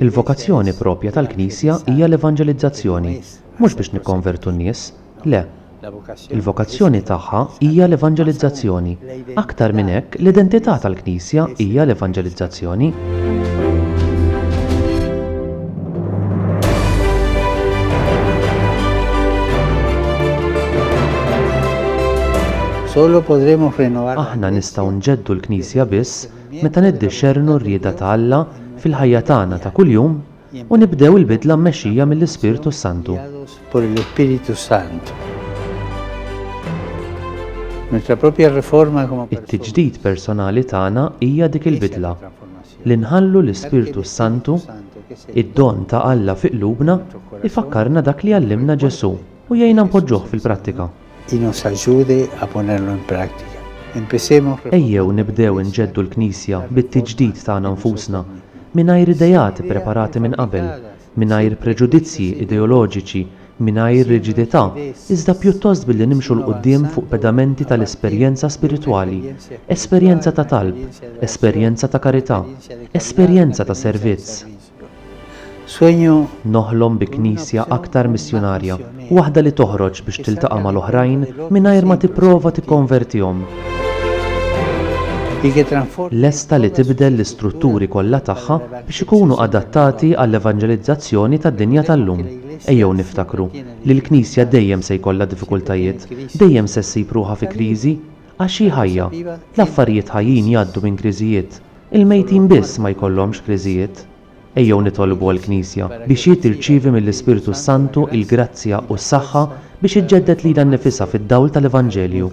Il-vokazzjoni proprja tal-Knisja hija l-evanġelizzazzjoni, mhux biex nikkonvertu n-nies, le. Il-vokazzjoni tagħha hija l-evanġelizzazzjoni. Aktar minn hekk, l-identità tal-Knisja hija l-evanġelizzazzjoni. Solo podremo rinnovar. Aħna nistgħu nġeddu l-Knisja biss meta niddixxernu r-rieda ta' Alla fil-ħajja tagħna ta' kuljum u nibdew il-bidla mmexxija mill-Ispirtu s-Santu. Por el Espíritu Santo. Nuestra propia reforma como persuni. It-tiġdid personali tagħna hija dik il-bidla. li nħallu l-Ispirtu s-Santu, id-don ta' Alla fi qlubna, ifakkarna dak li għallimna Ġesù u jgħinna npoġġuh fil-prattika. Ejjew nibdew inġeddu l-Knisja bit-tiġdid tagħna nfusna, mingħajr ideat ippreparati minn qabel, mingħajr preġudizzji ideoloġiċi, mingħajr riġidità, iżda pjuttost billi nimxu 'l quddiem fuq pedamenti tal-esperjenza spiritwali, esperjenza ta' talb, esperjenza ta' karità, esperjenza ta' servizz. Noħlom bi Knisja aktar missjunarja. waħda li toħroġ biex tiltaqa' mal-oħrajn mingħajr ma tipprova tikkonvertihom, lesta li tibdel l-istrutturi kollha tagħha biex ikunu adattati għall-evanġelizzazzjoni tad-dinja tal-lum. Ejjew niftakru li l-Knisja dejjem se jkollha diffikultajiet, dejjem se ssib ruħha fi kriżi, għax hi ħajja. L-affarijiet ħajjin jgħaddu minn kriżijiet. Il-mejtin biss ma jkollhomx kriżijiet. Ejjew nitolbu għall-Knisja biex hi tirċievi mill-Ispirtu s-Santu l-grazzja u s-saħħa biex iġġedded lilha nnifisha fid-dawl tal-Evanġelju.